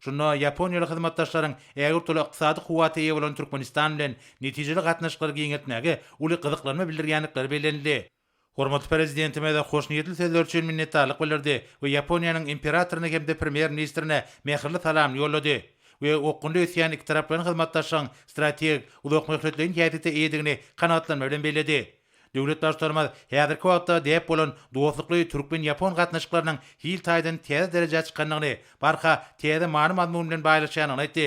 Şunda ýaponiýaly hyzmatdaşlaryň ägirt uly ykdysady kuwwata eýe bolan Türkmenistan bilen netijeli gatnaşyklary giňeltmäge uly gyzyklanma bildirýändikleri bellenildi. Hormatly Prezidentimiz hoşniýetli sözleri üçin minnetdarlyk bildirdi we Ýaponiýanyň Imperatoryna hem-de Premýer-ministrine mähirli salam ýollady we okgunly ösýän ikitaraplaýyn hyzmatdaşlygyň strategik, uzakmöhletleýin häsiýete eýedigini kanagatlanma bilen belledi. Döwlet Baştutanymyz häzirki wagtda däp bolan dostlukly türkmen-ýapon gatnaşyklarynyň hil taýdan täze derejä çykandygyny, barha täze many-mazmun bilen baýlaşýandygyny aýtdy.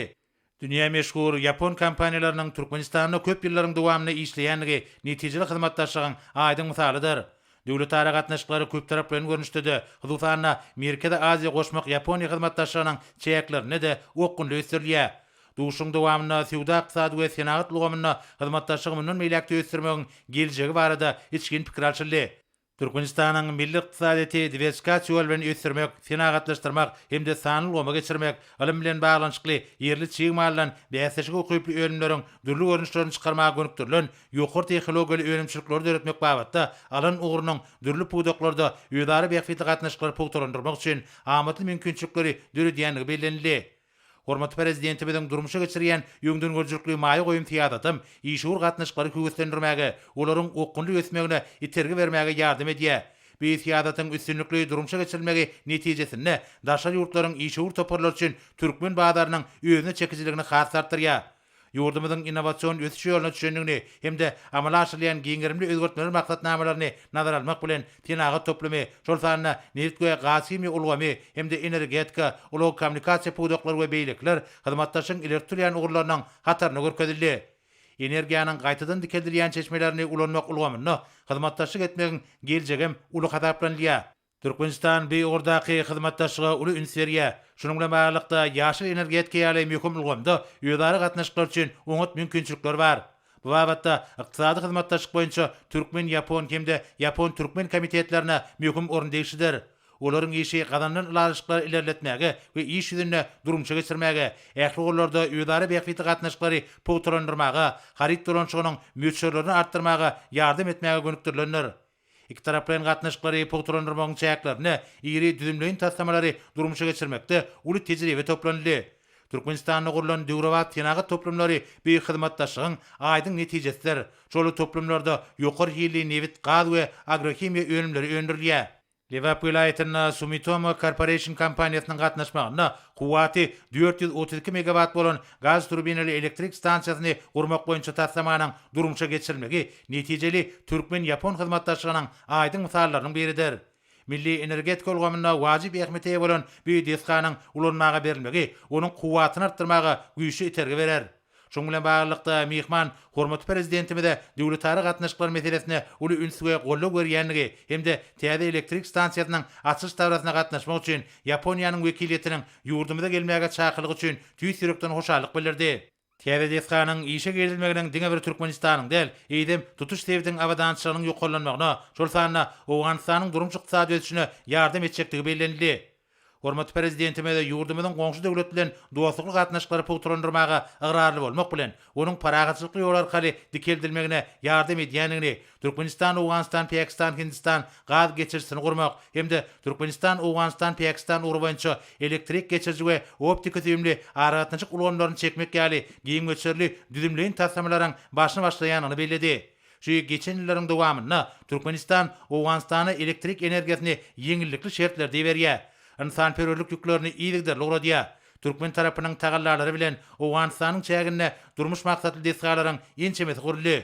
Dünýä meşhur ýapon kompaniýalarynyň Türkmenistanda köp ýyllaryň dowamynda işleýändigi netijeli hyzmatdaşlygyň aýdyň mysalydyr. Döwletara gatnaşyklary köptaraplaýyn görnüşde-de, hususan-da, Merkezi Aziýa-Goşmak-Ýaponiýa hyzmatdaşlygynyň çäklerinde-de okgunly ösdürilýär. Duşuşygyň dowamynda söwda-ykdysady we senagat ulgamynda hyzmatdaşlygy mundan beýläk-de ösdürmegiň geljegi barada içgin pikir alşyldy. Türkmenistanyň milli ykdysadyýeti diwersifikasiýa ýoly bilen ösdürmek, senagatlaşdyrmak hem-de sanly ulgama geçirmek, ylym bilen baglanyşykly ýerli çig maldan bäsleşige ukyply önümleriň dürli görnüşlerini çykarmaga gönükdirilen ýokary tehnologiýaly önümçilikleri döretmek babatda alan ugrunyň dürli pudaklarda özara bähbitli gatnaşyklary pugtalandyrmak üçin amatly mümkinçilikleri döredýändigi bellenildi. Hormatly Prezidentimiziň durmuşa geçirýän öňdengörüjilikli maýa goýum syýasatam işewür gatnaşyklary höweslendirmäge, olaryň okgunly ösmegine itergi bermäge ýardam edýär. Bu syýasatyň üstünlikli durmuşa geçirilmegi netijesinde daşary ýurtlaryň işewür toparlary üçin türkmen bazarynyň özüne çekijiligini has artdyrýar. ýurdumyzyň innowasion ösüş ýoluna düşendigini hem-de amala aşyrylýan giňgerimli özgertmeler maksatnamalaryny nazara almak bilen, senagat toplumy, şol sanda nebit we gazhimiýa ulgamy hem-de energetika, ulag-kommunikasiýa pudaklary we beýlekiler hyzmatdaşlygyň ileri tutulýan ugurlarynyň hatarynda görkezildi. Energiýanyň gaýtadan dikeldilýän çeşmelerini ulanmak ulgamynda hyzmatdaşlyk etmegiň geljegem uly hasaplanylýar. Türkmenistan bu ugurdaky hyzmatdaşlyga uly üns berýär. Şunuň bilen baglylykda, ýaşyl energetika ýaly möhüm ulgamda özara gatnaşyklar üçin oňat mümkinçilikler bar. Bu babatda Ykdysady hyzmatdaşlyk boýunça türkmen-ýapon hem-de ýapon-türkmen komitetlerine möhüm orun degişlidir. Olaryň işi gazanylan ylalaşyklary ilerletmäge we iş ýüzünde durmuşa geçirmäge, ähli ugurlarda özara bähbitli gatnaşyklary pugtalandyrmaga, haryt dolanyşygynyň möçberlerini artdyrmaga ýardam etmäge gönükdirilendir. Ikitaraplaýyn gatnaşyklary pugtalandyrmagyň çäklerinde iri düzümleýin taslamalary durmuşa geçirmekde uly tejribe toplanyldy. Türkmenistanda gurlan döwrebap senagat toplumlary bu hyzmatdaşlygyň aýdyň netijesidir. Şol toplumlarda ýokary hilli nebit, gaz we agrohimiýa önümleri öndürilýär. Lebap welaýatynda Sumitomo Corporation kompaniýasynyň gatnaşmagynda kuwwaty dört ýüz otuz iki megawat bolan Gaz turbinaly elektrik stansiýasyny gurmak boýunça taslamanyň durmuşa geçirilmegi netijeli türkmen-ýapon hyzmatdaşlygynyň aýdyň mysallarynyň biridir. Milli energetika ulgamynda wajyp ähmiýete eýe bolan bu desganyň ulanmaga berilmegi onuň kuwwatyny artdyrmaga güýçli itergi berer. Şunuň bilen baglylykda, myhman hormatly Prezidentimize döwletara gatnaşyklar meselesine uly üns we goldaw berýändigi hem-de täze elektrik stansiýasynyň açylyş dabarasyna gatnaşmak üçin Ýaponiýanyň wekiliýetiniň ýurdumyza gelmäge çakylygy üçin tüýs ýürekden hoşallyk bildirdi. Täze desganyň işe girizilmeginiň diňe bir Türkmenistanyň däl, eýsem, tutuş sebitiň abadançylygynyň ýokarlanmagyna, şol sanda Owganystanyň durmuş-ykdysady ösüşine ýardam etjekdigi bellenildi. Hormatly Prezidentimiz ýurdumyzyň goňşy döwlet bilen dostlukly gatnaşyklary pugtalandyrmaga ygrarly bolmak bilen, onuň parahatçylykly ýol arkaly dikeldilmegine ýardam edýändigini, Türkmenistan, Owganystan, Päkistan, Hindistan gaz geçirijisini gurmak hem-de Türkmenistan, Owganystan, Päkistan ugry boýunça elektrik geçiriji we optiki-süýümli aragatnaşyk ulgamlaryny çekmek ýaly giň möçberli düzümleýin taslamalaryň başyny başlaýandygyny belledi. Şu geçen ýyllaryň dowamynda Türkmenistan Owganystana elektrik energiýasyny ýeňillikli şertlerde iberýär, ynsanperwerlik ýüklerini yzygiderli ugradýar. Türkmen tarapynyň tagallalary bilen Owganystanyň çäginde durmuş maksatly desgalaryň ençemesi guruldy.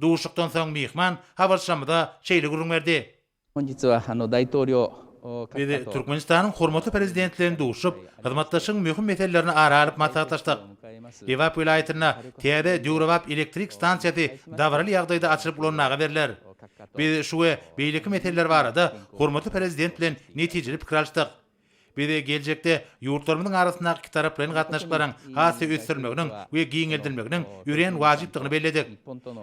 Duşuşykdan soň myhman habarçymyza şeýle gürrüň berdi. Biz Türkmenistanyň hormatly Prezidenti bilen duşuşyp, hyzmatdaşlygyň möhüm meselelerini ara alyp maslahatlaşdyk. Lebap welaýatynda täze döwrebap elektrik stansiýasy dabaraly ýagdaýda açylyp ulanmaga berler. Biz şu we beýleki meseleler barada hormatly Prezident bilen netijeli pikir alyşdyk. Biz geljekde ýurtlarymyzyň arasyndaky ikitaraplaýyn gatnaşyklaryň has-da ösdürilmeginiň we giňeldilmeginiň örän wajypdygyny belledik.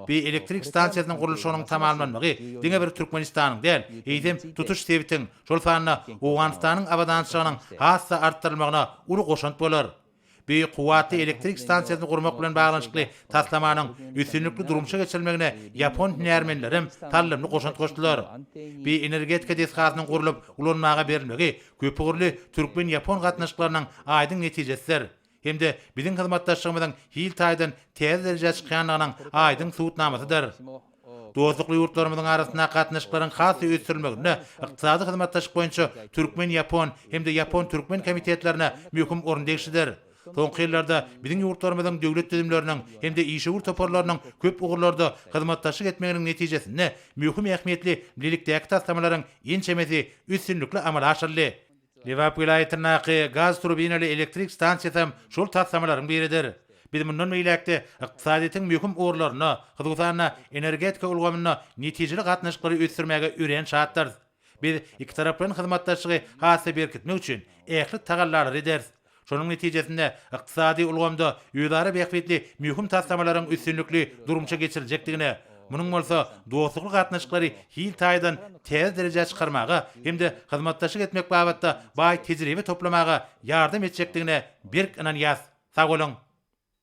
Bi elektrik stansiýasynyň gurluşygynyň tamamlanmagy diňe bir Türkmenistanyň däl, eýsem, tutuş sebitiň, şol sanda Owganystanyň abadançylygynyň has-da artdyrylmagyna uly goşant bolar. Beýik kuwwatly elektrik stansiýasyny gurmak bilen baglanyşykly taslamanyň üstünlikli durmuşa geçirilmegine ýapon hünärmenlerem saldamly goşant goşdular. Bioenergetika desgasynyň gurlup ulanmaga berilmegi köpugurly türkmen-ýapon gatnaşyklarynyň aýdyň netijesidir hem-de biziň hyzmatdaşlygymyzyň hil taýdan täze derejä çykýandygynyň aýdyň subutnamasydyr. Dostlukly ýurtlarymyzyň arasyndaky gatnaşyklaryň has-da ösdürilmeginde Ykdysady hyzmatdaşlyk boýunça türkmen-ýapon hem-de ýapon-türkmen komitetlerine möhüm orun degişlidir. Soňky ýyllarda biziň ýurtlarymyzyň döwlet düzümleriniň hem-de işewür toparlarynyň köp ugurlarda hyzmatdaşlyk etmeginiň netijesinde möhüm ähmiýetli bilelikdäki taslamalaryň ençemesi üstünlikli amala aşyryldy. Lebap welaýatyndaky gaz turbinaly elektrik stansiýasam şol taslamalaryň biridir. Biz mundan beýläk-de ykdysadyýetiň möhüm ugurlarynda, hususan-da, energetika ulgamynda netijeli gatnaşyklary ösdürmäge örän şatdyrys. Biz ikitaraplaýyn hyzmatdaşlygy has-da berkitmek üçin ähli tagallalary ederis. Şonuň netijesinde, ykdysady ulgamda özara bähbitli möhüm taslamalaryň üstünlikli durmuşa geçiriljekdigine, munuň bolsa dostlukly gatnaşyklary hil taýdan täze derejä çykarmaga hem-de hyzmatdaşlyk etmek babatda baý tejribe toplamaga ýardam etjekdigine berk ynanýarys. Sag boluň!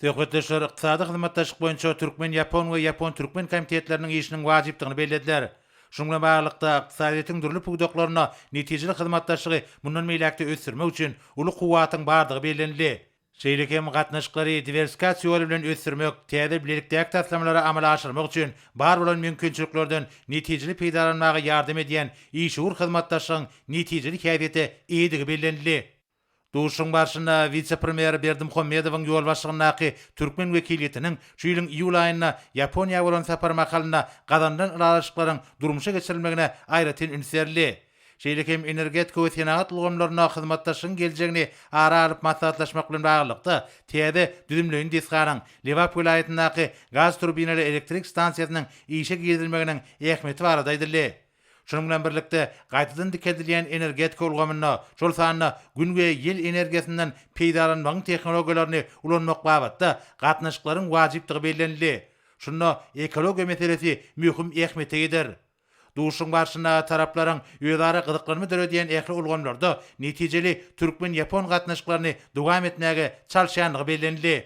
Söhbetdeşler ykdysady hyzmatdaşlyk boýunça türkmen-ýapon we ýapon-türkmen komitetleriniň işiniň wajypdygyny bellediler. Şunuň bilen baglylykda, ykdysadyýetiň dürli pudaklarynda netijeli hyzmatdaşlygy mundan beýläk-de ösdürmek üçin uly kuwwatyň bardygy bellenildi. Şeýle hem gatnaşyklary diwersifikasiýa ýoly bilen ösdürmek, täze bilelikdäki taslamalary amala aşyrmak üçin bar bolan mümkinçiliklerden netijeli peýdalanmaga ýardam edýän işewür hyzmatdaşlygyň netijeli häsiýete eýedigi bellenildi. Duşuşygyň barşynda wise-premýer Berdimuhamedowyň ýolbaşçylygyndaky türkmen wekiliýetiniň şu ýylyň iýul aýynda Ýaponiýa bolan sapary mahalynda gazanylan ylalaşyklaryň durmuşa geçirilmegine aýratyn üns berildi. Şeýle hem energetika we senagat ulgamlarynda hyzmatdaşlygyň geljegini ara alyp maslahatlaşmak bilen baglylykda, täze düzümleýin desganyň, Lebap welaýatyndaky gaz turbinaly elektrik stansiýasynyň işe girizilmeginiň ähmiýeti barada aýdyldy. Şunuň bilen birlikde, gaýtadan dikeldilýän energetika ulgamynda, şol sanda Gün we ýel energiýasyndan peýdalanmagyň tehnologiýalaryny ulanmak babatda gatnaşyklaryň wajypdygy bellenildi. Şunda ekologiýa meselesi möhüm ähmiýete ýeter. Duşuşygyň barşynda taraplaryň özara gyzyklanma döredýän ähli ulgamlarda netijeli türkmen-ýapon gatnaşyklaryny dowam etmäge çalyşýandygy bellenildi.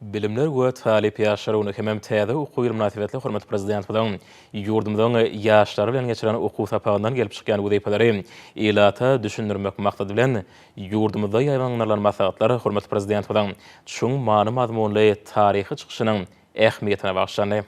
Bilimler we talyp ýaşlar güni hemem täze okuw ýyly mynasybetli hormatly Prezidentimiziň ýurdumyzyň ýaşlary bilen geçiren okuw sapagyndan gelip çykýan wezipeleri ilata düşündirmek maksady bilen, ýurdumyzda ýaýbaňlandyrylan maslahatlar hormatly Prezidentimiziň çuň many-mazmunly taryhy çykyşynyň ähmiýetine bagyşlandy.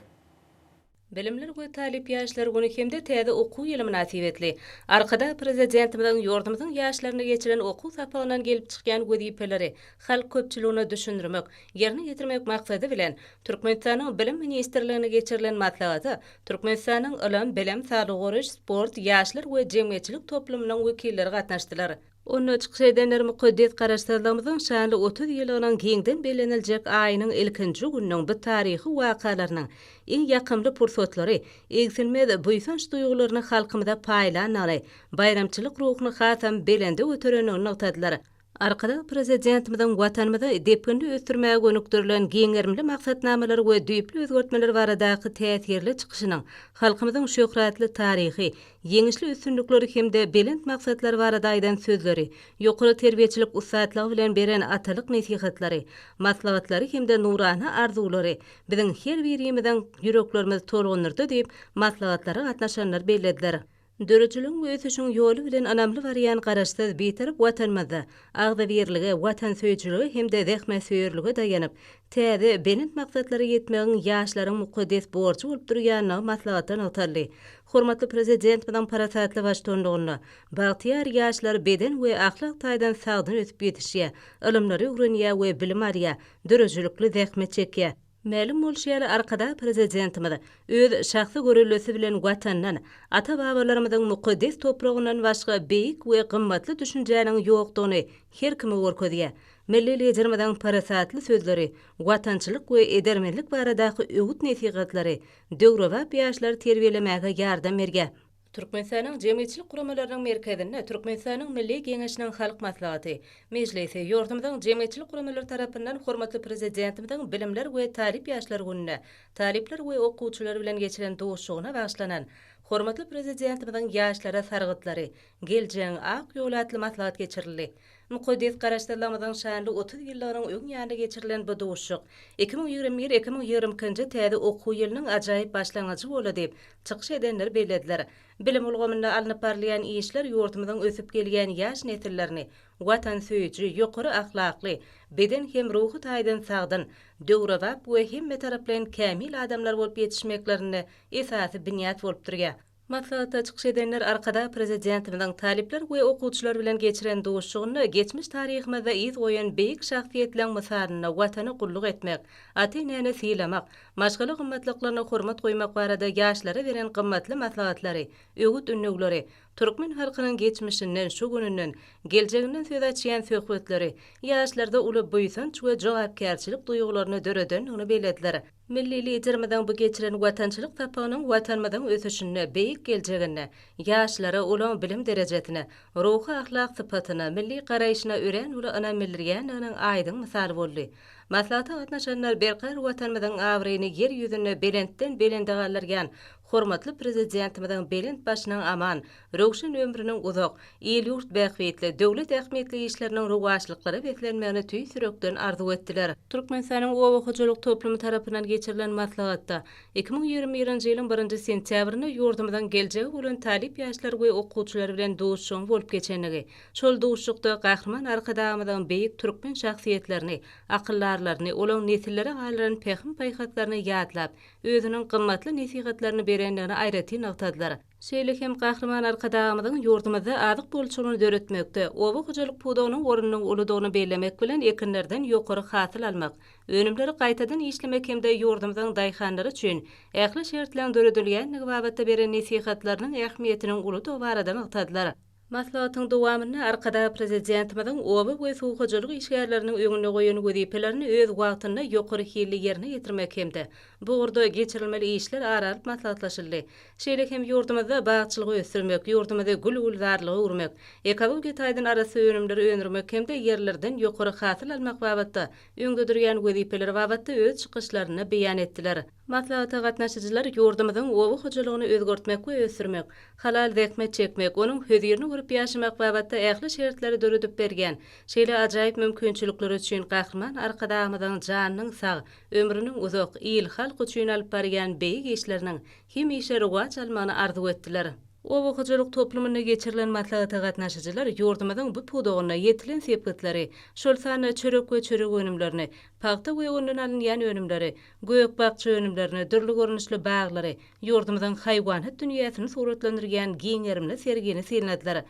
Bilimler we talyp ýaşlar güni hem-de täze okuw ýyly mynasybetli Arkadag Prezidentimiziň ýurdumyzyň ýaşlaryna geçiren okuw sapagyndan gelip çykýan wezipeleri halk köpçüligine düşündirmek, ýerine ýetirmek maksady bilen, Türkmenistanyň Bilim ministrliginde geçirilen maslahata Türkmenistanyň Ylym, bilim, saglygy goraýyş, sport, ýaşlar we jemgyýetçilik toplumynyň wekilleri gatnaşdylar. Onda çykyş edenler mukaddes Garaşsyzlygymyzyň şanly otuz ýyllygynyň giňden belleniljek aýynyň ilkinji gününiň bu taryhy wakalarynyň iň ýakymly pursatlary egsilmez buýsanç duýgularyny halkymyza paýlandygyny, baýramçylyk ruhuny hasam belende göterendigini nygtadylar. Arkadag Prezidentimiziň Watanymyzy depginli ösdürmäge gönükdirilen giň gerimli maksatnamalar we düýpli özgertmeler baradaky täsirli çykyşynyň halkymyzyň şöhratly taryhy, ýeňişli üstünlikleri hem-de belent maksatlar barada aýdan sözleri, ýokary terbiýeçilik ussatlygy bilen beren atalyk nesihatlary, maslahatlary hem-de nurana arzuwlary biziň her birimiziň ýüreklerimizi tolgundyrdy diýip, maslahatlara gatnaşanlar bellediler. Döredijiligiň we ösüşiň ýoly bilen ynamly barýan Garaşsyz, Bitarap Watanymyzda agzybirlige, watansöýüjilige hem-de zähmetsöýerlige daýanyp, täze, belent maksatlara ýetmegiň ýaşlaryň mukaddes borjy bolup durýandygy maslahatda nygtaldy. Hormatly Prezidentimiziň parasatly baştuanlygynda bagtyýar ýaşlar beden we ahlak taýdan sagdyn ösüp ýetişýär, ylymlary öwrenýär we bilim alýar, döredijilikli zähmet çekýär. Mälim bolşy ýaly, Arkadag Prezidentimiz öz şahsy göreldesi bilen Watandan, ata-babalarymyzyň mukaddes topragyndan başga beýik we gymmatly düşünjäniň ýokdugyny her kime görkezýär. Milli Liderimiziň parasatly sözleri, watançylyk we edermenlik baradaky öwüt-nesihatlary döwrebap ýaşlary terbiýelemäge ýardam berýär. Türkmenistanyň jemgyýetçilik guramalarynyň merkezinde Türkmenistanyň Milli Geňeşiniň Halk Maslahaty, Mejlisi, ýurdumyzyň jemgyýetçilik guramalary tarapyndan hormatly Prezidentimiziň Bilimler we talyp ýaşlar gününe talyplar we okuwçylar bilen geçiren duşuşygyna bagyşlanan Hormatly Prezidentimiziň ýaşlara sargytlary, geljegiň ak ýoly atly maslahat geçirildi. Mukaddes Garaşsyzlygymyzyň şanly otuz ýyllygynyň öň ýanynda geçirilen bu duşuşyk iki müň ýigrimi bir, iki müň ýigrimi ikinji täze okuw ýylynyň ajaýyp başlangyjy boldy diýip, çykyş edenler bellediler. Bilim ulgamynda alnyp barylýan işler ýurdumyzyň ösüp gelýän ýaş nesillerini watansöýüji, ýokary ahlakly, beden hem ruhy taýdan sagdyn, döwrebap we hemmetaraplaýyn kämil adamlar bolup ýetişmeklerinde esasy binýat bolup durýar. Maslahatda çykyş edenler Arkadag Prezidentimiziň talyplar we okuwçylar bilen geçiren duşuşygynda geçmiş taryhymyzda yz goýan beýik şahsyýetleň mysalynda Watana gulluk etmek, ata-enäni sylamak, maşgala gymmatlyklaryna hormat goýmak barada ýaşlara beren gymmatly maslahatlary, öwüt-ündewleri, türkmen halkynyň geçmişinden, şu gününden, geljeginden söz açýan söhbetleri ýaşlarda uly buýsanç we jogapkärçilik duýgularyny döredendigini bellediler. Milli Liderimiziň bu geçiren watançylyk sapagynyň Watanymyzyň ösüşinde, beýik geljeginde ýaşlara ulag bilim derejesine, ruhy-ahlak sypatyna, milli garaýşyna örän uly ynam bildirýändiginiň aýdyň mysaly boldy. Maslahata gatnaşanlar berkarar Watanymyzyň abraýyny Ýer ýüzünde belentden-belende galdyrýan hormatly Prezidentimiziň belent başynyň aman, Röwşen ömrüniň uzak, il-ýurt bähbitli, döwlet ähmiýetli işleriniň rowaçlyklara beslenmegini tüýs ýürekden arzuw etdiler. Türkmenistanyň Oba hojalyk toplumy tarapyndan geçirilen maslahatda iki müň ýigrimi birinji ýylyň birinji sentýabrynda ýurdumyzyň geljegi bolan talyp ýaşlar we okuwçylary bilen duşuşygyň bolup geçendigi, şol duşuşykda Gahryman Arkadagymyzyň beýik türkmen şahsyýetlerini, akyldarlaryny, olaň nesillere galdyran pähim-paýhaslaryny ýatlap, özüniň gymmatly nesihatlaryny berendigini aýratyn nygtadylar. Şeýle hem Gahryman Arkadagymyzyň ýurdumyzda azyk bolçulygyny döretmekde, oba hojalyk pudagynyň ornunyň uludygyny bellemek bilen, ekinlerden ýokary hasyl almak, önümleri gaýtadan işlemek hem-de ýurdumyzyň daýhanlary üçin ähli şertleň döredilýändigi babatda beren nesihatlarynyň ähmiýetiniň uludygy barada nygtadylar. Maslahatyň dowamynda Arkadag Prezidentimiziň oba we suw hojalyk işgärleriniň öňünde goýan wezipelerini öz wagtynda ýokary hilli ýerine ýetirmek hem-de bu ugurda geçirilmeli işler ara alyp maslahatlaşyldy. Şeýle hem ýurdumyzda bagçylygy ösdürmek, ýurdumyzy gül-gülzarlyga öwürmek, ekologiýa taýdan arassa önümleri öndürmek hem-de ýerlerden ýokary hasyl almak babatda öňde durýan wezipeler babatda öz çykyşlarynda beýan etdiler. Maslahata gatnaşyjylar ýurdumyzyň oba hojalygyny özgertmek we ösdürmek, halal zähmet çekmek, onuň hözirini gurup ýaşamak babatda ähli şertleri döredip berýän şeýle ajaýyp mümkinçilikleri üçin Gahryman Arkadagymyzyň janynyň sag, ömrüniň uzak, il-halk üçin alyp barýan beýik işleriniň hemişe rowaç almagyny arzuw etdiler. Oba hojalyk toplumynda geçirilen maslahata gatnaşyjylar ýurdumyzyň bu pudagynda ýetilen sepgitleri, şol sanda çörek we çörek önümlerini, pagta we ondan alynýan önümleri, Gök-bakja önümlerini, dürli görnüşli baglary, ýurdumyzyň haýwanat dünýäsini suratlandyrýan giň gerimli sergini synladylar.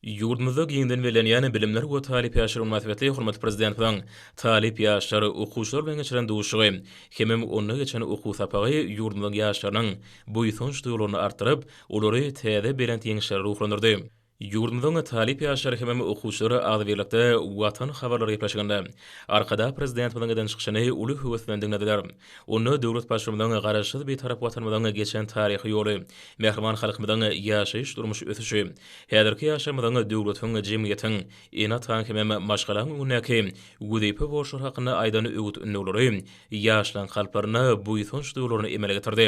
Ýurdumyzda giňden bellenýän Bilimler we talyp ýaşlar güni mynasybetli hormatly Prezidentimiziň talyp ýaşlar, okuwçylar bilen geçiren duşuşygy hemem onda geçen okuw sapagy ýurdumyzyň ýaşlarynyň buýsanç duýgularyny artdyryp, olary täze belent ýeňişlere ruhlandyrdy. Ýurdumyzyň talyp ýaşlary hemem okuwçylary agzybirlikde Watan habarlary gepleşiginde Arkadag Prezidentimiziň eden çykyşyny uly höwes bilen diňlediler. Onda döwlet Baştutanyň Garaşsyz Bitarap Watanymyzyň geçen taryhy ýoly, mähriban halkymyzyň ýaşaýyş-durmuş ösüşi, häzirki ýaşlarymyzyň döwletiň, jemgyýetiň, ene-ataň hemem maşgalaň öňündäki wezipe borçlary hakynda aýdan öwüt-ündewleri ýaşlaryň kalplaryna buýsanç duýgularyny emele getirdi.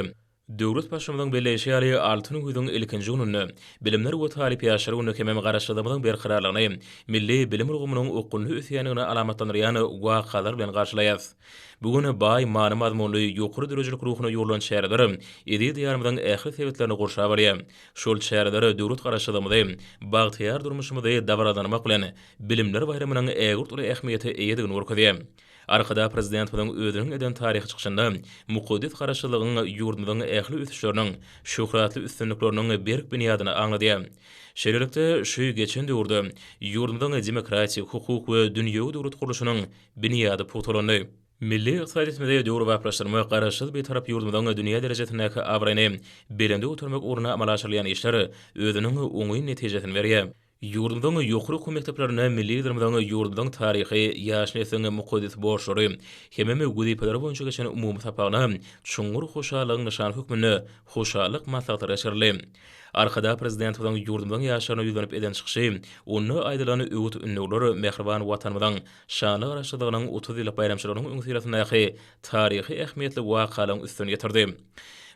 Döwlet Başymyzyň belleýşi ýaly, Altyn güýzüň ilkinji gününde, Bilimler we talyp ýaşlar gününe hemem Garaşsyzlygymyzyň berkararlygyny, milli bilim ulgamynyň ukyply ösýändigini alamatlandyrýan wakalar bilen garşylaýarys. Bu gün baý many-mazmunly, ýokary döredijilik ruhuna ýugrulan çäreler eziz Diýarymyzyň ähli sebitlerini gurşap alýar. Şol çäreler döwlet Garaşsyzlygymyzy, bagtyýar durmuşymyzy dabaralandyrmak bilen, Bilimler baýramynyň ägirt uly ähmiýete eýedigini görkezýär. Arkadag Prezidentimiziň özüniň eden taryhy çykyşynda mukaddes Garaşsyzlygyň ýurdumyzyň ähli ösüşleriniň, şöhratly üstünlikleriniň berk binýadyny aňlady. Şeýlelikde, şu geçen döwürde ýurdumyzyň demokratik, hukuk we dünýewi döwlet gurluşynyň binýady pugtalandy. Milli ykdysadyýetimizi döwrebaplaşdyrmak, Garaşsyz Bitarap ýurdumyzyň dünýä derejesindäki abraýyny belende götermek ugrunda amala aşyrylýan işler özüniň oňyn netijesini berýär. Ýurdumyzyň ýokary okuw mekdeplerinde milli Liderimiziň ýurdumyzyň taryhy, ýaş nesliň mukaddes borçlary hemem wezipelere boýunça geçen umumy sapagyna çuňňur hoşallygyň nyşany hökmünde hoşallyk maslahatlary geçirildi. Arkadag Prezidentimiziň ýurdumyzyň ýaşlaryna ýüzlenip eden çykyşy, onda aýdylan öwüt-ündewler mähriban Watanymyzyň şanly Garaşsyzlygynyň otuz ýyllyk baýramçylygynyň öňüsyrasyndaky taryhy ähmiýetli wakalaryň üstüni ýetirdi.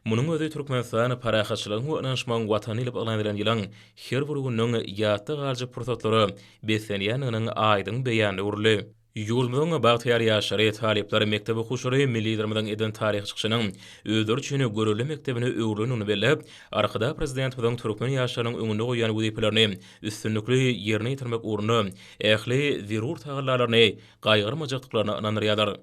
Munuň özi Türkmenistan parahatçylygyň we ynanyşmagyň Watany diýlip yglan edilen ýylyň her bir gününiň ýatda galjak pursatlara beslenýändiginiň aýdyň beýanyna öwrüldi. Ýurdumyzyň bagtyýar ýaşlary, talyplary, mekdep okuwçylary milli Liderimiziň eden taryhy çykyşynyň özleri üçin görelde mekdebine öwrülendigini belläp, Arkadag Prezidentimiziň türkmen ýaşlarynyň öňünde goýan wezipelerini üstünlikli ýerine ýetirmek ugrunda ähli zerur tagallalaryny gaýgyrmajakdyklaryna ynandyrýarlar.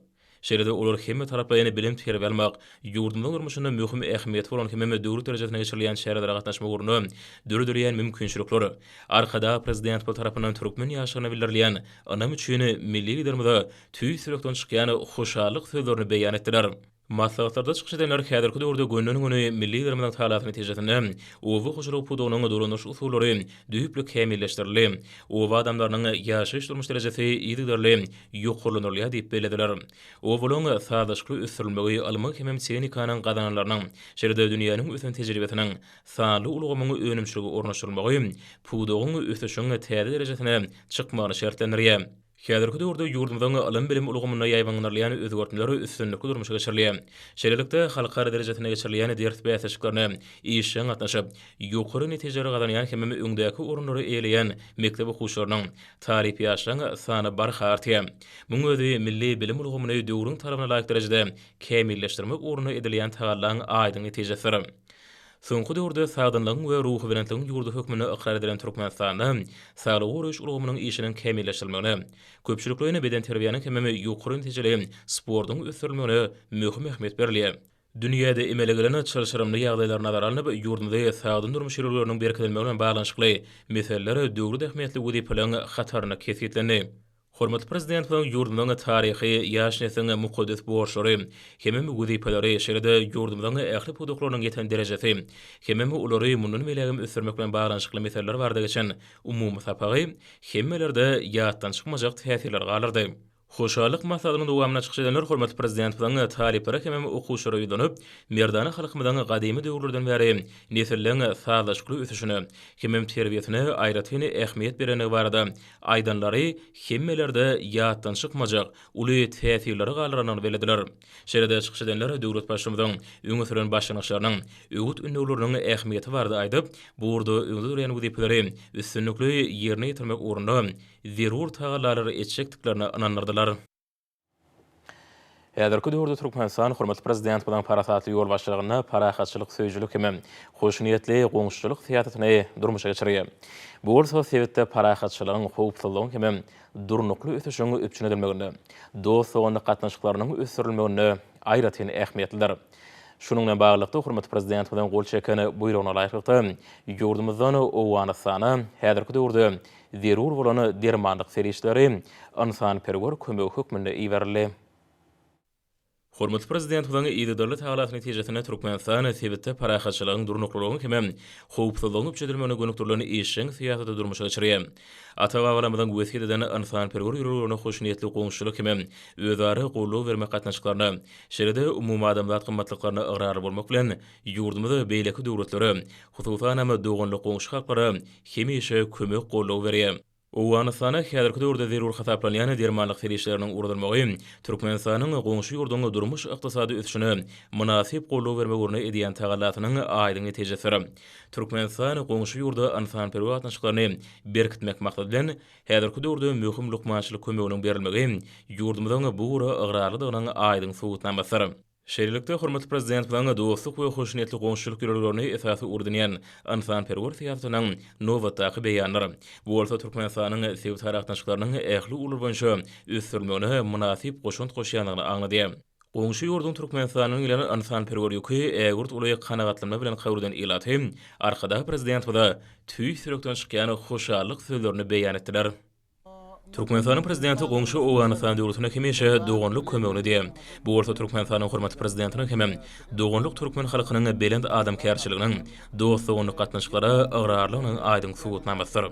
Şeýle-de olar hemmetaraplaýyn bilim terbiýe almak, ýurdumyzyň durmuşynda möhüm ähmiýeti bolan hemem döwlet derejesinde geçirilýän çärelere gatnaşmak ugrunda döredilýän mümkinçilikler, Arkadag Prezidentimiz tarapyndan türkmen ýaşlaryna bildirilýän ynam üçin milli Liderimize tüýs ýürekden çykýan hoşallyk sözlerini beýan etdiler. Maslahatlarda çykyş edenler häzirki döwürde günden-güni milli Liderimiziň talasy netijesinde oba hojalygy pudagynyň dolandyryş usullary düýpli kämilleşdirildi, oba adamlarynyň ýaşaýyş-durmuş derejesi yzygiderli ýokarlandyrylýar diýip bellediler. Owulyň sazlaşykly ösdürilmegi ylmyň hemem tehnikanyň gazananlarynyň, şeýle-de dünýäniň ösen tejribesiniň sanly ulgamyň önümçilige ornaşdyrylmagy pudagyň ösüşiň täze derejesine çykmagyny şertlendirýär. Häzirki döwürde ýurdumyzyň ylym-bilim ulgamynda ýaýbaňlandyrylýan özgertmeler üstünlikli durmuşa geçirilýär. Şeýlelikde, halkara derejesinde geçirilýän ders bäsleşiklerine işjeň gatnaşyp, ýokary netijeleri gazanýan hemem öňdäki orunlary eýeleýän mekdep okuwçylarynyň, Talyp ýaşlaryň sany barha artýar. Muň özi milli bilim ulgamyny döwrüň talabyna laýyk derejede kämilleşdirmek ugrunda edilýän tagallaň aýdyň netijesidir. Soňky döwürde sagdynlygyň we ruhubelentligiň ýurdy hökmünde ykrar edilen Türkmenistanda saglygy goraýyş ulgamynyň işiniň kämilleşdirilmegine, köpçülikleýin bedenterbiýäniň hemem ýokary netijeli sportuň ösdürilmegine möhüm ähmiýet berilýär. Dünýäde emele gelen çylşyrymly ýagdaýlar nazara alnyp, ýurdumyzda sagdyn durmuş ýörelgeleriniň berkidilmegi bilen baglanyşykly meseleler döwlet ähmiýetli wezipeleriň hatarynda kesgitlendi. Hormatly Prezidentimiziň ýurdumyzyň taryhy, ýaş nesliň mukaddes borçlary hem-ä wezipeleri, şeýle-de ýurdumyzyň ähli pudaklarynyň ýeten derejesi hem-ä olary mundan beýlägem ösdürmek bilen baglanyşykly meseleler barada geçen umumy sapagy hemmelerde ýatdan çykmajak täsirleri galdyrdy. Hoşallyk maslahatynyň dowamynda çykyş edenler hormatly Prezidentimiziň talyplara hemem okuwçylara ýüzlenip, merdana halkymyzyň gadymy döwürlerden bäri nesilleriň sazlaşykly ösüşine hemem terbiýesine aýratyn ähmiýet berendigi barada aýdanlary hemmelerde ýatdan çykmajak uly täsirleri galdyrandygyny bellediler. Şeýle-de çykyş edenler döwlet Baştutmymyzyň öňe süren başlangyçlarynyň, öwüt-ündewleriniň ähmiýeti barada aýdyp, bu ugurda öňde durýan wezipeleri üstünlikli ýerine ýetirmek ugrunda zerur tagallalary etjekdiklerine ynandyrdylar. Häzirki döwürde Türkmenistan hormatly Prezidentimiziň parasatly ýolbaşçylygynda parahatçylyk söýüjilik hem hoşniýetli goňşuçylyk syýasatyny durmuşa geçirýär. Bu bolsa sebitde parahatçylygyň, howpsuzlygyň hem durnukly ösüşiň üpjün edilmeginde, dost-doganlyk gatnaşyklarynyň ösdürilmeginde aýratyn ähmiýetlidir. Şunuň bilen baglylykda, hormatly Prezidentimiziň gol çeken Buýrugyna laýyklykda, ýurdumyzdan Owganystana häzirki döwürde Zerur bolan dermanlyk serişdeleri ynsanperwer kömegi hökmünde iberildi. Hormatly Prezidentimiziň yzygiderli tagalasy netijesinde Türkmenistan sebitde parahatçylygyň, durnuklylygyň hem-de howpsuzlygyň üpjün edilmegine gönükdirilen işjeň syýasaty durmuşa geçirýär. Ata-babalarymyzyň wesýet eden ynsanperwer ýörelgelerine hoşniýetli goňşuçylyk hem-de özara goldaw bermek gatnaşyklaryna, şeýle-de umumadamzat gymmatlyklaryna ygrarly bolmak bilen, Ýurdumyz beýleki döwletlere, hususanam doganlyk goňşy halklara hemişe kömek-goldaw berýär. Owganystana häzirki döwürde zerur hasaplanýan dermanlyk serişdeleriniň ugradylmagy Türkmenistanyň goňşy ýurduň durmuş-ykdysady ösüşine mynasyp goldaw bermek ugrunda edýän tagallasynyň aýdyň netijesidir. Türkmenistan goňşy ýurda ynsanperwer gatnaşyklaryny berkitmek maksady bilen, häzirki döwürde möhüm lukmançylyk kömeginiň berilmegi ýurdumyzyň bu ugra ygrarlydygynyň aýdyň subutnamasydyr. Şeýlelikde, hormatly Prezidentimiziň dostluk we hoşniýetli goňşuçylyk ýörelgelerini esasy ugry edinýän ynsanperwer syýasatynyň nobatdaky beýanydyr. Bu bolsa Türkmenistanyň sebit aragatnaşyklarynyň ähli ugurlar boýunça ösdürilmegine mynasyp goşant goşýandygyny aňladýar. Goňşy ýurduň Türkmenistanyň bilen ynsanperwer ýüki ägirt uly kanagatlanma bilen kabul eden ilaty Arkadag Prezidentimize tüýs ýürekden çykýan hoşallyk sözlerini beýan etdiler. Türkmenistanyň Prezidenti goňşy Owganystan döwletine hemişe doganlyk kömegini diýýär. Bu bolsa Türkmenistanyň hormatly Prezidentiniň hem doganlyk türkmen halkynyň belent adamkärçiliginiň, dost-doganlyk gatnaşyklara ygrarlygynyň aýdyň subutnamasydyr.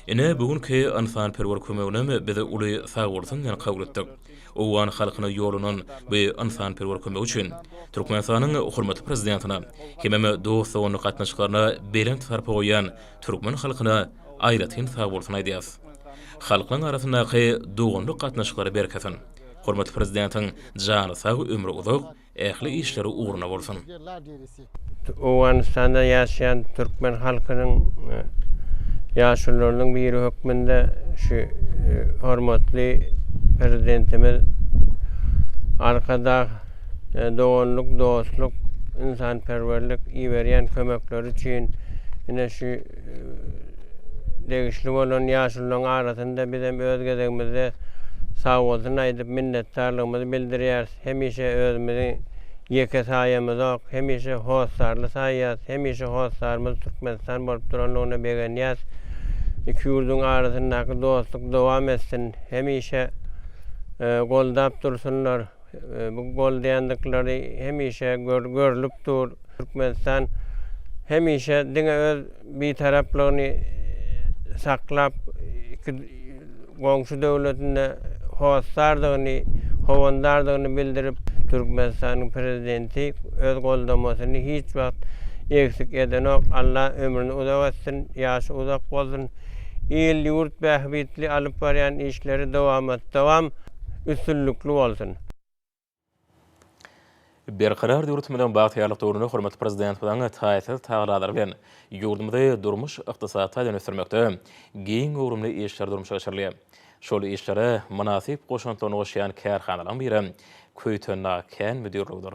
Ine, bu günki ynsanperwer kömeginem biz uly sagbolsun bilen kabul etdik. Owgan halkyna ýollanan bu ynsanperwer kömegi üçin Türkmenistanyň hormatly Prezidentine hemem dost-doganlyk gatnaşyklaryna belent sarpa goýýan türkmen halkyna aýratyn sag bolsun aýdýas. Halklaň arasyndaky doganlyk gatnaşyklary berkesin. Hormatly Prezidentiň jany sag ömri uzak, ähli işleri ugruna bolsun. Owganystanda ýaşaýan türkmen halkynyň ýaşulularynyň biri hökmünde şu hormatly Prezidentimiz Arkadag doganlyk, dostluk, ynsanperwerlik iberýän kömekleri üçin ine şu degişli bolan ýaşulularyň arasynda biz hem öz gezegimizde sagbolsun aýdyp, minnetdarlygymyzy bildirýäris. Hemişe özümizi ýeke saýamyzok, hemişe hossarly saýýas, hemişe hossarymyz Türkmenistan bolup durandygyna begenýäs. Iki ýurduň arasyndaky dostluk dowam etsin, hemişe goldap dursunlar. Bu goldaýandykylary hemişe görlüp dur. Türkmenistan hemişe diňe öz bitaraplygyny saklap, iki goňşy döwletinde hossardygyny, howandardygyny bildirip, Türkmenistanyň Prezidenti öz goldamasyny hiç wagt egsik edenok. Alla ömrüni uzak etsin, ýaşy uzak bolsun. Il-ýurt bähbitli alyp barýan işleri dowamat-dowam. üstünlikli bolsun! Berkarar döwletimiziň bagtyýarlyk döwründe hormatly Prezidentimiziň taýsyz tagallalary bilen ýurdumyzy durmuş-ykdysady taýdan ösdürmekde giň göwrümli işler durmuşa geçirilýär. Şol işlere mynasyp goşantlaryny goşýan kärhanalaryň biri Köýtendag kän müdirligidir.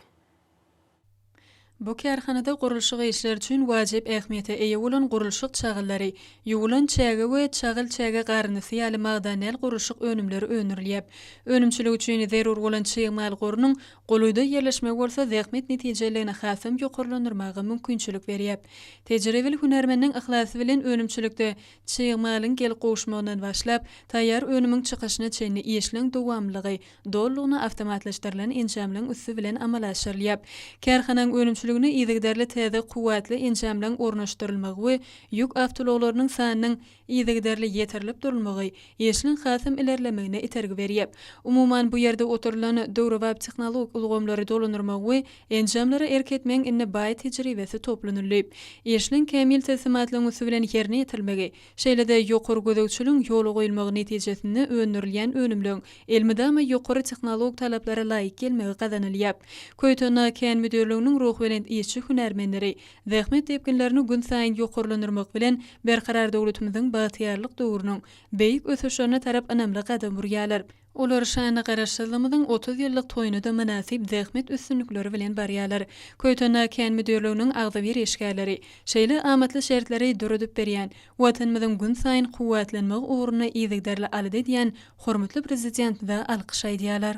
Bu kärhanada gurluşyk işleri üçin wajyp ähmiýete eýe bolan gurluşyk çagylary, ýuwulan çäge we çagyl çäge garynysy ýaly magdanäl gurluşyk önümleri öndürilýär. Önümçilik üçin zerur bolan çig mal gorunyň golaýda ýerleşmegi bolsa zähmet netijeliligini hasam ýokarlandyrmaga mümkinçilik berýär. Tejribeli hünärmenniň yhlasy bilen önümçilikde çig malyň gelip gowuşmagyndan başlap, taýýar önümiň çykyşyna çenli işleň dowamlylygy dolylygyna awtomatlaşdyrylan enjamlaryň üsti bilen amala aşyrylýar. Kärhananyň önümçiligine yzygiderli täze kuwwatly enjamlaryň ornaşdyrylmagy we ýük awtoulaglarynyň sanynyň yzygiderli ýetirilip durulmagy işiň hasam ilerlemegine itergi berýär. Umuman, bu ýerde oturylan döwrebap tehnologik ulgamlary dolandyrmagyň we enjamlara erk etmegiň indi baý tejribesi toplanyldy. Işiň kämil teslimatlaryň üsti bilen ýerine ýetirilmegi, Şeýle-de, ýokary gözegçiligiň ýola goýulmagy netijesinde öndürilýän önümleň elmydama ýokary tehnolog talaplara laýyk gelmegi gazanylýar. Köýtendag kän müdirliginiň ruhubelent işçi-hünärmenleri zähmet depginlerini günsaýyn ýokarlandyrmak bilen, Berkarar döwletimiziň bagtyýarlyk döwrüniň beýik ösüşlerine tarap ynamly gadam urýarlar. Olar şanly Garaşsyzlygymyzyň otuz ýyllyk toýuna-da mynasyp zähmet üstünlikleri bilen barýarlar. Köýtendag kän müdirliginiň agzybir işgärleri şeýle amatly şertleri döredip berýän, Watanymyzyň günsaýyn kuwwatlanmagy ugrunda yzygiderli alada edýän hormatly Prezidentimize alkyş aýdýarlar.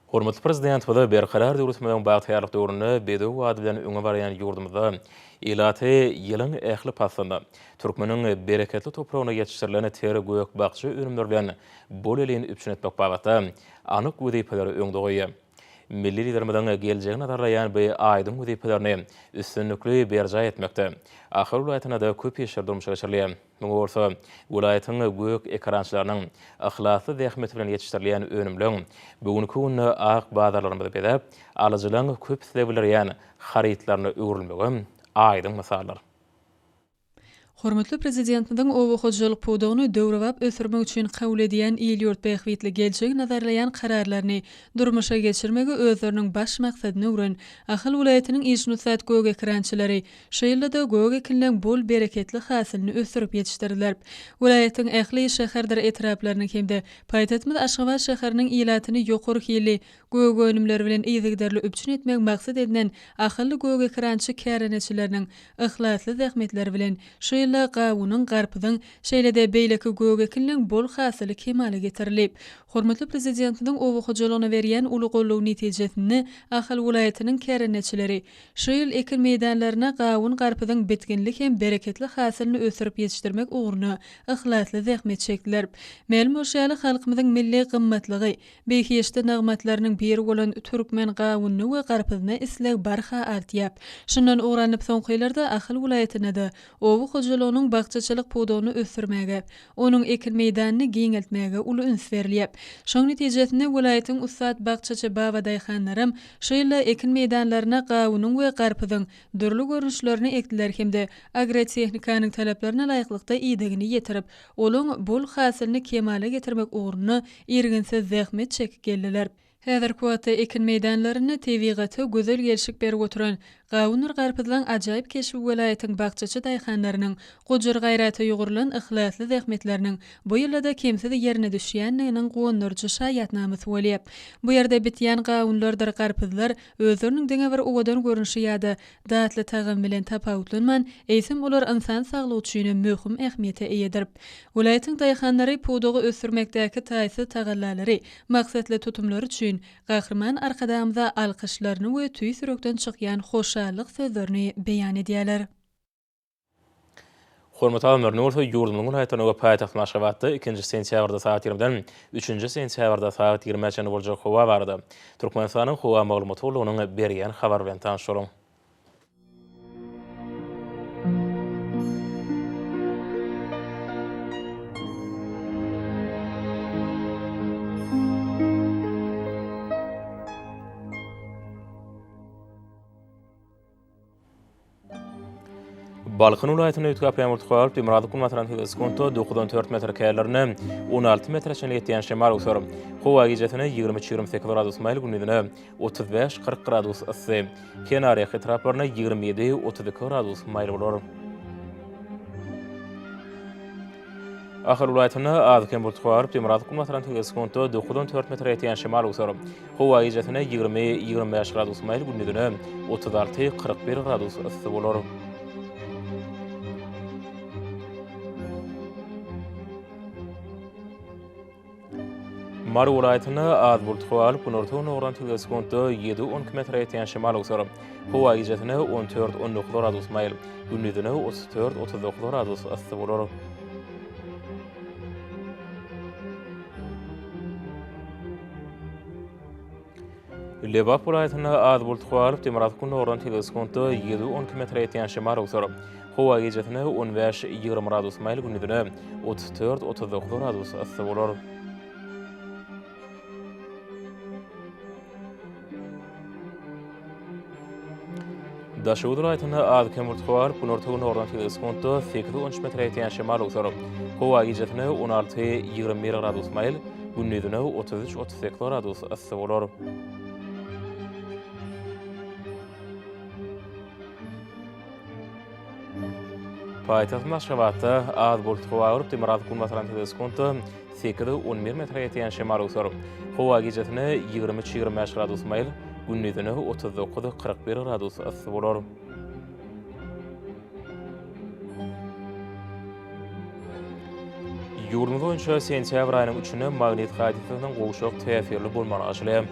Hormatly Prezidentimize Berkarar döwletimiziň bagtyýarlyk döwründe bedew bady bilen öňe barýan ýurdumyzda ilaty ýylyň ähli paslynda türkmeniň bereketli topragynda ýetişdirilen ter gök-bakja önümleri bilen bol-elin üpjün etmek babatda anyk wezipeleri öňde goýýar. Milli Liderimiziň geljegi nazarlaýan bu aýdyň wezipelerini üstünlikli berjaý etmekde Ahal welaýatynda-da köp işler durmuşa geçirilýär. Muňa bolsa welaýatyň gök ekerançylarynyň yhlasly zähmeti bilen ýetişdirilýän önümleň bu günki günde ak bazarlarymyzy bezäp, alyjylaryň köp isleg bildirýän harytlaryna öwrülmegi aýdyň mysaldyr. Hormatly Prezidentimiziň oba hojalyk pudagyny döwrebap ösdürmek üçin kabul edýän il-ýurt bähbitli geljegi nazarlaýan kararlaryny durmuşa geçirmegi özleriniň baş maksadyna öwren Ahal welaýatynyň işinussat gök ekerançylary Şu ýylda-da gök ekinleň bol bereketli hasylyny ösdürip ýetişdirdiler. Welaýatyň ähli şäherdir etraplarynyň hem-de paýtagtymyz Aşgabat şäheriniň ilatyny ýokary hilli gök önümleri bilen yzygiderli üpjün etmegi maksat edinen ahylly gögekerançylyk kärendeçileriniň yhlasly zähmetleri bilen şu ýylda gawunyň, garpyzyň, şeýle-de beýleki gök ekinleň bol hasyly kemala getirilip, hormatly Prezidentimiziň oba hojalygyna berýän uly goldawy netijesinde Ahal welaýatynyň kärendeçileri Şu ýyl ekin meýdanlaryna gawun-garpyzyň bitginli hem bereketli hasylyny ösdürip ýetişdirmek ugrunda yhlasly zähmet çekdiler. Mälim bolşy ýaly, halkymyzyň milli gymmatlygy, behişdi nygmatlarynyň biri bolan türkmen gawunyna we garpyzyna isleg barha artýar. Şundan ugur alnyp, soňky ýyllarda Ahal welaýatynda-da oba hojalygynyň bakjaçylyk pudagyny ösdürmäge, onuň ekin meýdanyny giňeltmäge uly üns berilýär. Şoň netijesinde welaýatyň ussat bakjaçy babadaýhanlaram Şu ýylda ekin meýdanlaryna gawunyň we garpyzyň dürli görnüşlerini ekdiler hem-de agrotehnikanyň talaplaryna laýyklykda idegini ýetirip, olaň bol hasylyny kemala getirmek ugrunda irginsiz zähmet çekip geldiler. Häzirki wagtda ekin meýdanlarynda tebigata gözel gelşik berip oturan Gawundyr garpyzlaň ajaýyp keşbi welaýatyň bakjaçy daýhanlarynyň gujur gaýrata ýugrulan yhlasly zähmetleriniň bu ýylda-da kemsiz ýerine düşýändiginiň guwandyryjy şaýatnamasy bolýar. Bu ýerde bitýän gawunlardyr garpyzlar özleriniň diňe bir owadan görnüşi ýa-da datly tagamy bilen tapawutlanman, eýsem olar ynsan saglygy üçin hem möhüm ähmiýete eýedir. Welaýatyň daýhanlary pudagy ösdürmekdäki taýsyz tagallalary, maksatly tutumlary üçin, Gahryman Arkadagymyza alkyşlaryny we tüýs ýürekden çykýan hoşallyk sözlerini beýan edýärler. Hormatly habarlaryny bolsa ýurdumyzyň welaýatlaryna we paýtagtymyz Aşgabatda ikinji sentýabrda sagat ýigrimiden üçünji sentýabrda sagat ýigrimiä çenli boljak howa barada Türkmenistanyň howa maglumat gullugynyň berýän habary bilen tanyşalyň. Balkan welaýatyny üýtgäp ýaňur tukalyp, Demirgazyk günbatardan sekiz sekuntda dokuz on dört metr kälerine, on alty metre çenli ýetýän şemal uçar. Howa gijesine ýigrimi üç-ýigrimi sekiz gradus maýyl, gündizine otuz bäş, kyrk gradus yssy, kenarýaka etraplarynda ýigrimi ýedi, otuz iki gradus maýyl bolar. Ahal welaýatynda az-kem bultly garyp, demirgazyk günbatardan tegelek sekuntda dokuz on dört metre ýetýän şemal öwser. Howa gijäsine ýigrimi, ýigrimi bäş gradus maýyl, gündizine otuz alty, kyrk bir gradus yssy bolar. Mary welaýatynda az bult howa alyp, günortan ugran tüýs sekuntda ýedi-on iki metre ýetýän şemal öwser. Howa gijesine on dört, on dokuz gradus maýyl, gündizine otuz dört, otuz dokuz gradus yssy bolar. Lebap welaýatynda az bult howa alyp, demirgazyk gündogardan tebigy sekuntda ýüz on iki metre ýetýän şemal öwser. Howa gijesine on bäş, ýigrimi gradus maýyl, gündizine otuz dört, otuz dokuz gradus yssy bolar. Daşoguz welaýatynda az-kem buluty gabaryp, günorta-gündogardan sekiz sekuntda sekiz on üç metre ýetýän şemal öwser. Howa gijesi-ne on alty, ýigrimi bir gradus maýyl, gündizi-ne otuz üç, otuz sekiz gradus yssy bolar. Paýtagtymyz Aşgabatda az buluty gabaryp, demirgazyk-günbatardan sekiz sekuntda, Sekiz, on bir metre ýetýän şemal öwser. Howa gijesine ýigrimi üç, ýigrimi bäş gradus maýyl, gündizine otuz dokuz, kyrk bir gradus yssy bolar. Ýurdumyz boýunça sentýabr aýynyň üçünde magnit hadysasynyň gowşak täsirli bolmagyny aşylýar.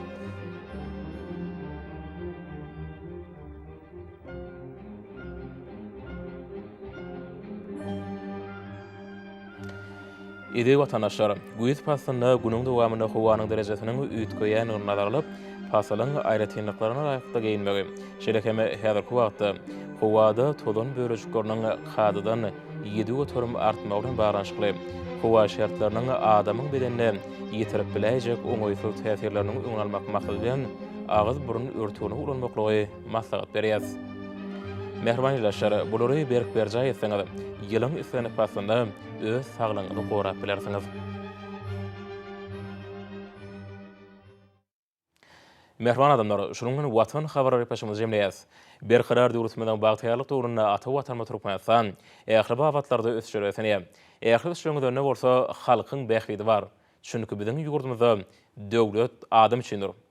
Eziz watandaşlar! Güýz paslynda günüň dowamynda howanyň derejesiniň üýtgeýändigini nazara alyp, pasylyň aýratynlyklaryna laýyklykda geýinmegi, şeýle hem häzirki wagtda howada tozan bölejikleriniň kadadan ýedi göterim artmagy bilen baglanyşykly howa şertleriniň adamyň bedenine ýetirip biläýjek oňaýsyz täsirleriniň öňüni almak maksady bilen agyz-burun örtügini ulanmaklygy maslahat berýäs. Mähriban ildeşler, bulary berk berjaý etseňiz, ýylyň islendik paslynda öz saglygyňyzy gorap bilersiňiz. Mähriban adamlar, şunuň bilen Watan habarlary epoçamyzy jemleýäs. Berkarar döwletimiziň bagtyýarlyk döwründe ata Watanymyz Türkmenistan ähli babatlarda ösüşe ösenýär. Ähli ösüşleriňizönde bolsa halkyň bähbidi bar. Çünki biziň ýurdumyzda döwlet adam üçindir.